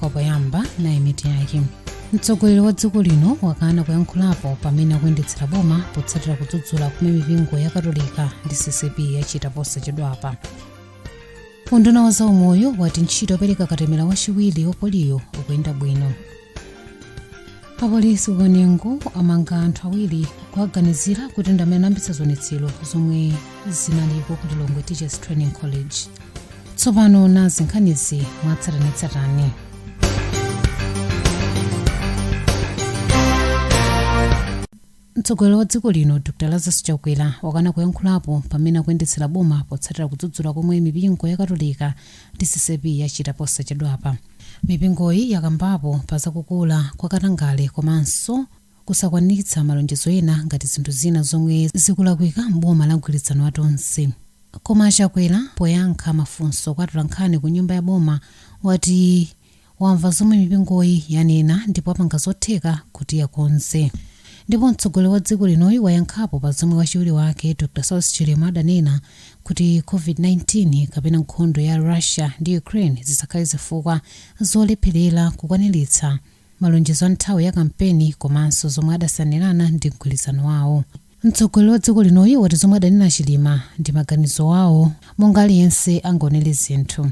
kwa poyamba nayi mitu yake mtsogoleri wa dziko lino wakana kuyankhulapo pa mmene akuyendetsera boma potsatira kudzudzula kumene mipingo ya katolika ndi ccap yachita posachedwapa unduna wa zaumoyo wati ntchito yopereka katemera wachiwiri wa poliyo ikuyenda bwino apolisi ku kanengo amanga anthu awiri kuwaganizira kuti ndi amene anayambitsa zionetsero zomwe zinaliko ku lilongwe teachers training college tsopano nazi nkhanizi mwatsatanetsatane Mtsogoleri wa dziko lino Dr Lazarus Chakwera wakana kuyankhulapo pa mmene akuyendetsera boma potsatira kudzudzula komwe mipingo ya Katolika ndi CCAP yachita posachedwapa. Mipingoyi yakambapo pa za kukula kwa katangale komanso kusakwaniritsa malonjezo ena ngati zinthu zina zomwe zikulakwika m'boma la mgwirizano wa Tonse. Koma a Chakwera poyankha mafunso kwa atolankhani ku nyumba ya boma wati wamva zomwe mipingoyi yanena ndipo apanga zotheka kuti akonze ndipo mtsogoleri wa dziko linoyu wayankhapo pa zomwe wachiwiri wake dr saulos chilima adanena kuti covid-19 kapena nkhondo ya russia ndi ukraine zisakhale zifukwa zolepherera kukwaniritsa malonjezo a nthawi ya kampeni komanso zomwe adasainirana ndi mgwirizano wawo Mtsogoleri wa dziko linoyu wati zomwe adanena Chilima ndi maganizo awo monga aliyense angaonere zinthu.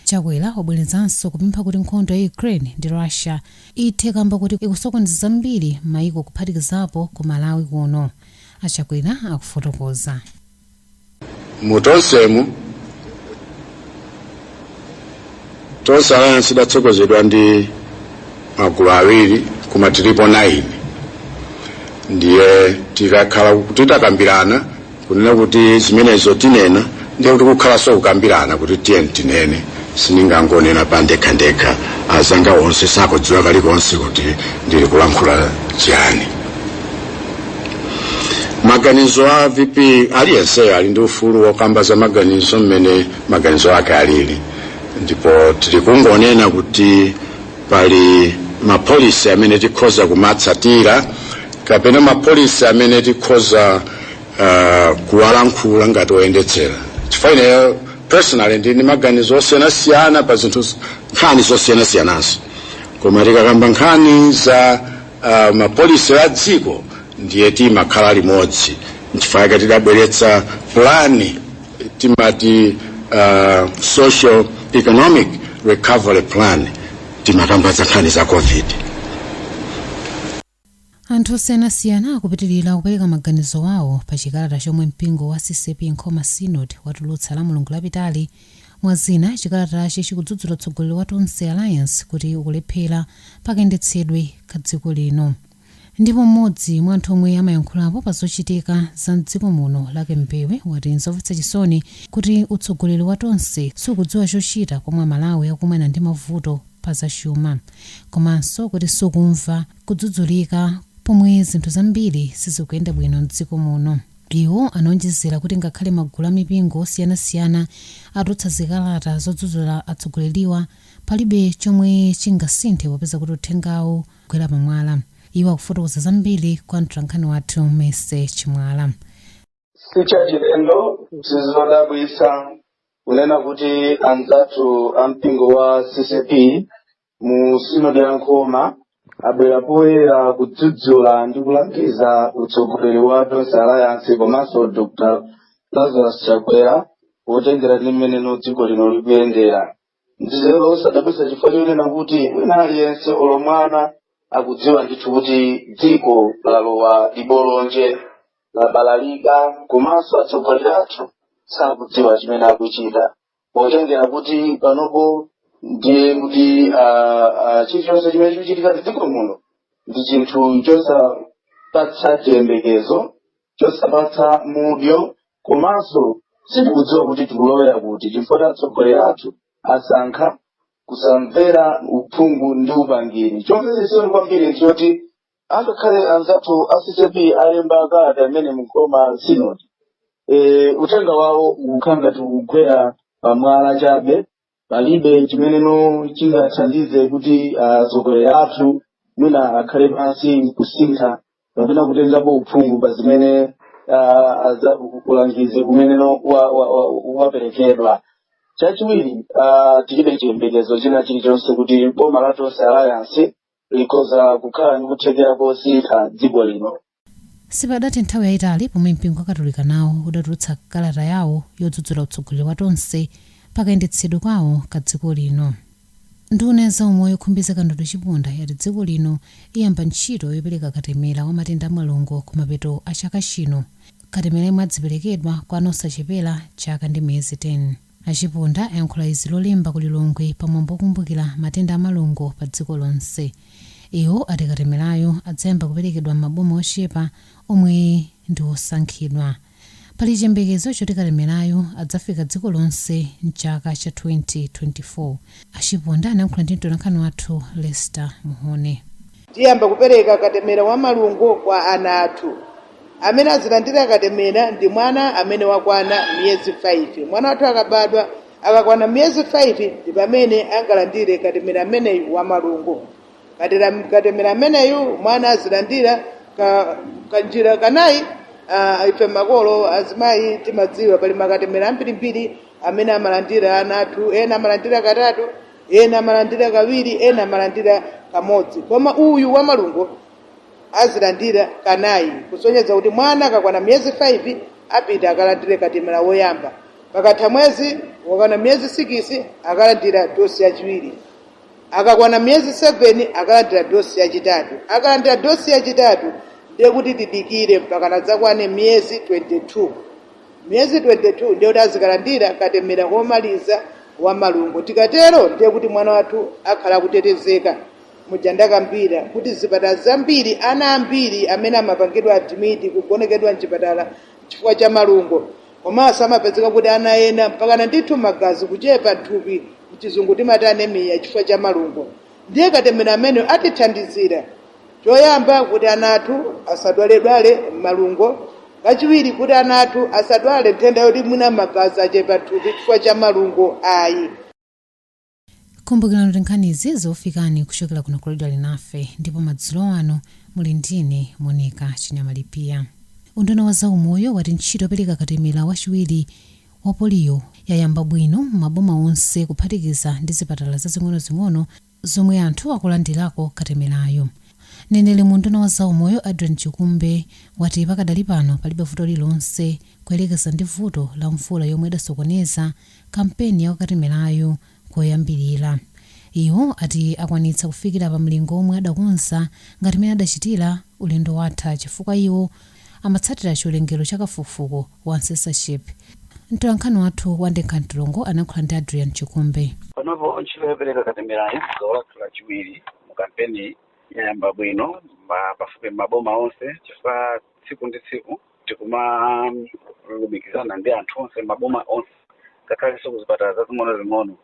Chakwera wabwerezanso kupempha kuti nkhondo ya Ukraine ndi Russia ithe kamba koti ikusokoneza zambiri mmaiko kuphatikizapo ku Malawi kuno. A Chakwera akufotokoza. mu tonsemu tonse alliance idatsogozedwa ndi magulu awiri koma tilipo 9 ndiye tikakhala kuti takambirana kunena kuti zimenezo tinena ndiye kuti kukhalanso kukambirana kuti tiyeni tinene siningangonena pa ndekhandekha azanga onse sakudziwa kalikonse kuti ndili kulankhula chiyani maganizo a vp aliyenseyo ali ndi ufulu wokamba za maganizo mmene maganizo ake alili ndipo tili kungonena kuti pali mapolisi amene tikhoza kumatsatira kapena mapolisi amene tikhoza uh, kuwalankhula ngati oyendetsera chifukwa ineyo personally ndili ndi maganizo osiyanasiyana pa zinthu z- nkhani zosiyanasiyananso koma tikakamba nkhani za uh, mapolisi a dziko ndiye timakhala limodzi nchifukwa yake tidabweretsa plani timati uh, social economic recovery plan timakamba za nkhani za covid anthu osiyanasiyana akupitilira kupereka maganizo awo pa chikalata chomwe mpingo wa ccap nkhoma synod watulutsa la mulungu lapitali mwa zina chikalatachi chikudzudzula utsogoleri wa tonse alliance kuti ukulephera pakayendetsedwe ka dziko lino ndipo mmodzi mwa anthu omwe amayankhulapo pa zochitika za mdziko muno luke mbewe wati nzomvetsa chisoni kuti utsogoleri wa tonse sukudziwa chochita pomwe amalawi akumana ndi mavuto pa zachuma, komanso kuti sukumva kudzudzulika pomwe zinthu zambiri sizikuyenda bwino m'dziko muno. Iwo anaonjezera kuti ngakhale magulu a mipingo osiyanasiyana atulutsa zikalata zodzudzula atsogoleriwa, palibe chomwe chingasinthe popeza kuti uthengawu ukugwera pamwala. Iwo akufotokoza zambiri kwa mtolankhani wathu Mercy Chimwala. si chachilendo si zodabwitsa kunena kuti anzathu a mpingo wa ccap mu sinodi ya nkhoma abwera poyera kudzudzula ndi kulangiza utsogoleri wa tonse alliance komanso dr lazarus chakwera potengera ndi mmene dziko lino likuyendera ndi zosadabwitsa chifukwa chonena kuti wina aliyense olo mwana akudziwa ndithu kuti dziko lalowa libolonje labalalika komanso atsogoleri athu sakudziwa chimene akuchita potengera kuti panopo ndiye kuti ah, ah, chilichonse chimene chikuchitika m'dziko muno ndi chinthu chosapatsa chiyembekezo chosapatsa mudyo komanso sitikudziwa kuti tikulowera kuti chifukwa atsogoleri athu asankha kusamvera uphungu ndi upangiri chomvetsa chisoni kwambiri nchoti angakhale anzathu a ccap alemba kalata imene mu nkhoma sinodi e, uthenga wawo ukukhala ngati ukugwera pamwala chabe palibe chimene chingathandize kuti atsogoleri athu mwina akhale pansi nkusintha kapena kutengapo uphungu pa zimene ah, aza- ulangizi umeneno wa- wa- wa- waperekedwa chachiwiri ah, tilibe chiyembekezo china chilichonse kuti boma la tonse alliance likhoza kukhala ndi kuthekera kosintha dziko lino Sipadathe nthawi yaitali pomwe mpingo wa Katolika nawo udatulutsa kalata yawo yodzudzula utsogoleri wa Tonse pa kayendetsedwe kwawo ka dziko lino. Nduna ya zaumoyo Khumbize Kandodo Chiponda yati dziko lino iyamba ntchito yopereka katemera wa matenda a malungo kumapeto a chaka chino, katemera yemwe adziperekedwa kwa ana osachepera chaka ndi miyezi 10. A Chiponda ayankhula izi lolemba ku Lilongwe pa mwambo okumbukila matenda a malungo pa dziko lonse. Iwo ati katemelayu adzayamba kupelekedwa m'maboma ochepa omwe ndi osankhidwa. Pali chiyembekezo choti katemelayu adzafika dziko lonse m'chaka cha 2024. A Chiponda anayankhula ndi mtolankhani wathu Lester Mhone. Tiyamba kupereka katemera wa malungo kwa ana athu. Amene azilandira katemera ndi mwana amene wakwana miyezi 5. Mwana wathu akabadwa, akakwana miyezi 5 ndi pamene angalandire katemera ameneyu wa malungo. Katera- Katemera ameneyu mwana azilandira ka- kanjira kanayi ah, ife makolo azimayi timadziwa pali makatemera ambirimbiri amene amalandira ana athu ena amalandira katatu ena amalandira kawiri ena amalandira kamodzi koma uyu wa malungo azilandira kanayi kusonyeza kuti mwana akakwana miyezi 5 apita akalandire katemera woyamba pakatha mwezi wakwana miyezi sikisi akalandira dosi yachiwiri akakwana miyezi seveni akalandira dosi yachitatu akalandira dosi yachitatu ndiye kuti tidikire mpaka adzakwane miyezi 22 miyezi 22 ndiye kuti azikalandira katemera womaliza wa malungo tikatero ndiye kuti mwana wathu akhala akutetezeka muja ndakambira kuti zipatala zambiri ana ambiri amene amapangidwa admiti kugonekedwa mchipatala chifukwa cha malungo komanso amapezeka kuti ana ena mpakana ndithu magazi kuchepa m'thupi mchizungu timati anemiya chifukwa cha malungo ndiye katemera ameneyo atithandizira Choyamba, kuti ana athu asadwaledwale malungo. Kachiwiri, kuti ana athu asadwale nthenda yoti mwina magazi achepa m'thupi chifukwa cha malungo ayi. Kumbukirani kuti nkhanizi zikufikani kuchokera kuno ku Radio Alinafe ndipo madzulo ano muli ndine Monica Chinyamalipiya. Unduna wa zaumoyo wati ntchito yopereka katemera wachiwiri wa poliyo yayamba bwino m'maboma onse kuphatikiza ndi zipatala zazing'onozing'ono zomwe anthu akulandilako katemerayu. Mneneri mu unduna wa zaumoyo Adrian Chikumbe wati pakadali pano palibe vuto lililonse kuyelekeza ndi vuto la mvula yomwe idasokoneza kampeni ya katemerayu koyambilira. Iwo ati akwanitsa kufikira pa mlingo womwe adakonza ngati mene adachitira ulendo watha chifukwa iwo amatsatira chiwerengero cha kafukufuku wa censorship mtolankhani wathu wa ndekha mtulungu analankhula ndi adrian chikumbe panopo ntchito yopereka katemerayu gawo lathu lachiwiri mu kampeni yayamba bwino ma- pafupi maboma onse chifukwa tsiku ndi tsiku tikumalumikizana ndi anthu onse m'maboma onse ngakhalenso kuzipatala zazing'ono zing'ono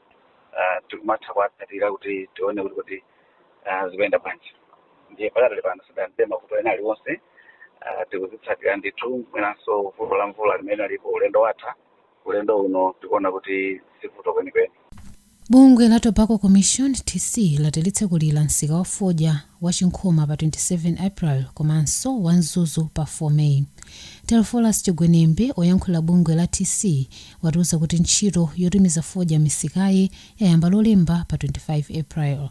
ah, tikumatha kuwatsatira kuti tione kuti kuti ah, zikuyenda bwanji ndiye pakadali pano sitidamve mavuto ena aliwonse ah, tikuzitsatira ndithu mwinanso vuto la mvula limene linalipo ulendo watha ulendo uno tikuona kuti sivuto kwenikweni bungwe la tobacco commission tc lati litsekula msika wa fodya wa chinkhoma pa 27 april komanso wa mzuzu pa 4 may telephorus chigwenembe oyankhulira bungwe la tc watiuza kuti ntchito yotumiza fodya m'misikayi yayamba Lolemba pa 25 April.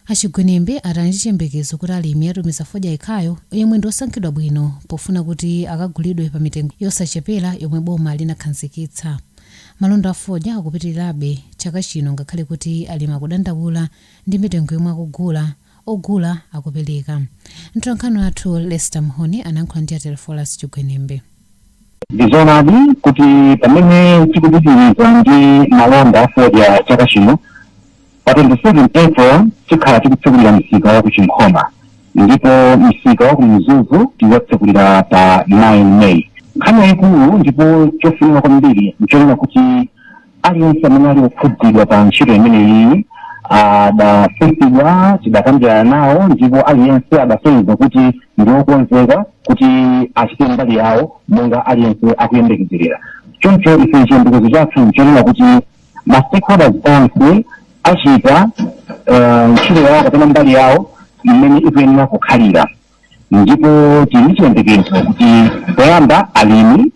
A Chigwenembe ati ali ndi chiyembekezo kuti alimi atumiza fodya yekhayo yemwe ndi osankhidwa bwino pofuna kuti akagulidwe pa mitengo yosachepera yomwe boma linakhanzikitsa. Malonda a fodya akupitilirabe chaka chino ngakhale kuti alimi akudandaula ndi mitengo yomwe ogula ogula akupereka. Mtolankhani wathu Lester Mhone anayankhula ndi a Telephorus Chigwenembe. ndizoonadi kuti pamene tikupitiriza ndi malonda afodya chaka chino pa 27 april tikhala tikutsekulira msika wa kuchinkhoma ndipo msika wa kumzuzu tizatsekulira pa 9 may nkhani yayikulu ndipo chofunika kwambiri nchonena kuti aliyense amene ali okhudzidwa pa ntchito imeneyi adafunsidwa tidakambirana nawo ndipo aliyense adasonyeza kuti ndi okonzeka kuti achite mbali yawo monga aliyense akuyembekezerera choncho ife chiyembekezo chathu nchonena kuti ma stakeholders onse achita eh, ntchito yawo kapena mbali yawo imene ikuyenera kukhalira ndipo tili ndi chiyembekezo kuti poyamba alimi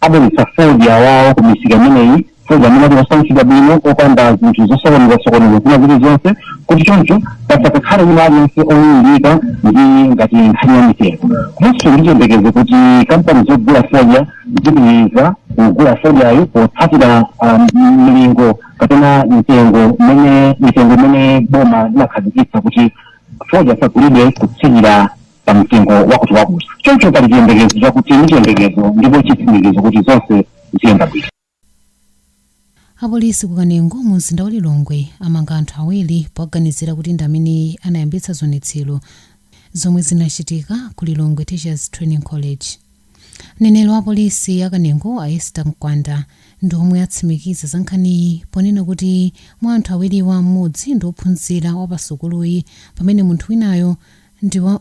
abweretsa fodya wawo ku misika imeneyi fodya amene ali osankhidwa bwino opanda zinthu zosokoneza-sokoneza zina zilizonse kuti choncho pasakakhale wina aliyense owumbika ndi ngati nkhani ya mitengo komanso ndi chiyembekezo kuti kampani zogula fodya zipitiriza kugula fodyayo potsatira ah, m- mlingo kapena mitengo imene mitengo imene boma linakhazikitsa kuti fodya asagulidwe kutsikira pa mtengo wakutiwakuti choncho pali chiyembekezo chakuti ndi chiyembekezo ndipo chitsimikizo kuti zonse ziyenda bwino apolisi ku kanengo mu mzinda wa lilongwe amanga anthu awiri poganizira kuti ndi amene anayambitsa zionetsero zomwe zinachitika ku lilongwe teachers training college Mneneri wa polisi ya Kanengo a Esther Mkwanda ndi omwe atsimikiza za nkhaniyi ponena kuti mwa anthu awiriwa m'modzi ndi ophunzira wa pa sukuluyi pamene munthu winayo ndi wa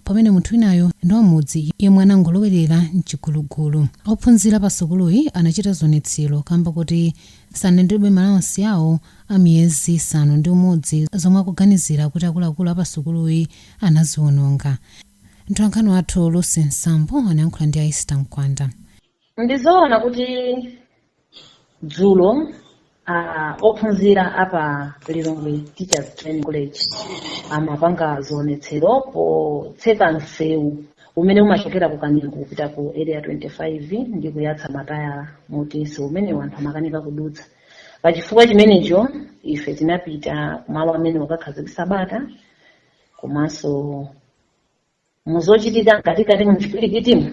pamene munthu winayo ndi wa mudzi yemwe anangolowerera mchigulugulu. Ophunzira pa sukuluyi anachita zionetsero kamba kuti sanalandilebe ma allowance awo a miyezi isanu ndi umodzi zomwe akuganizira kuti akuluakulu a pa sukuluyi anaziononga. Mtolankhani wathu Lucy Nsambo anayankhula ndi a Esther Mkwanda. ndizoona kuti dzulo ah, ophunzira apa lilongwe teachers training college amapanga zionetsero potseka msewu umene umachokera ku kanengo kupita ku area 25 ndi kuyatsa matayala moti msewu umenewu anthu amakanika kudutsa pachifukwa chimenecho ife tinapita kumalo amenewa kukakhazikisa bata komanso muzochitika mkatikati muchipwirikitimo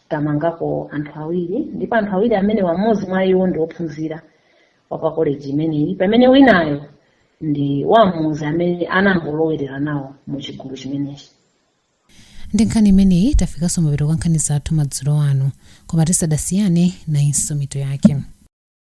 tamangako anthu awiri ndipo anthu awiri amene wamodzi mwa iwo ndi ophunzira wa pa koleji imeneyi pamene winayo ndi wamudzi amene anangolowerera nawo mu chigulu chimenechi ndi nkhani imeneyi tafikanso mapeto a nkhani zathu madzulo ano koma tisadasiyane nayinso mitu yake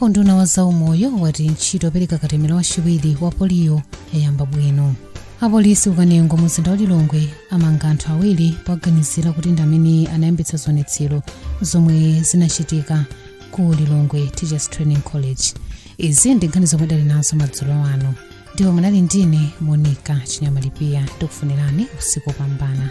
unduna wa zaumoyo wati ntchito yopereka katemera wachiwiri wa poliyo yayamba bwino apolisi ku kanengo mu mzinda wa lilongwe amanga anthu awiri poganizira kuti ndi amene anayambitsa zionetsero zomwe zinachitika ku lilongwe teachers training college izi ndi nkhani zomwe ndinali nazo madzulo ano ndipo munali ndine monika chinyama lipiya ndikufunirani usiku wopambana